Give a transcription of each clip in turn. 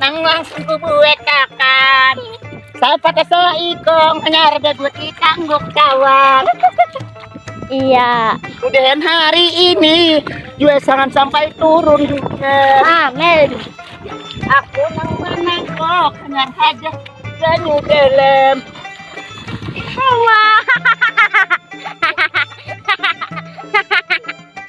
nang langsung kubuat kakan sapa kesel ikong hanyar beguti tangguk kawan iya udahan hari ini juga jangan sampai turun juga amin aku nang menengok hanyar saja banyu dalam hawa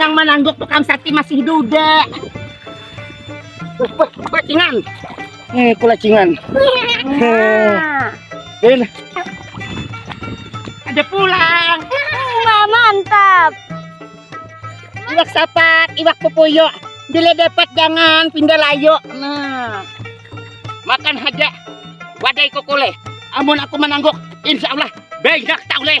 Nang manangguk tu kam sakti masih duda. Kulacingan. Hmm, kulacingan. Din. Ada pulang. Wah, mantap. Iwak sapat, iwak pupuyo. Bila dapat jangan pindah layo. Nah. Makan haja. Wadai kokole. Amun aku menangguk, insya Allah banyak tak oleh.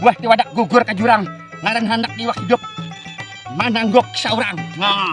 Buah tiwadak gugur ke jurang, ngaran handak iwak hidup, manangguk seorang. Nah.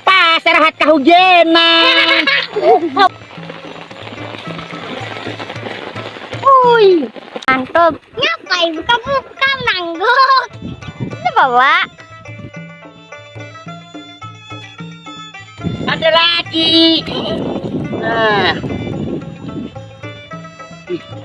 Pas rahat kahujanan. Ui, mantap. Ngapain buka-buka nangguk? Ini bawa. Ada lagi. Nah.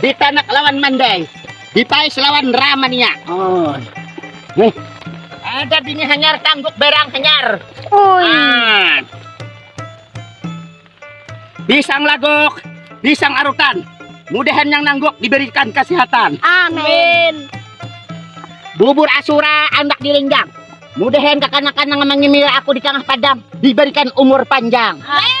Ditanak lawan Mandai, Dipais lawan Ramania. Oh. Nih. Ada bini hanyar tangguk berang hanyar. Ui. Ah. Pisang lagok, pisang arutan. Mudahan yang nangguk diberikan kesehatan. Amin. Bubur asura anak dilinggang. Mudahan kekanakan yang mengimil aku di tengah padang diberikan umur panjang. Amin.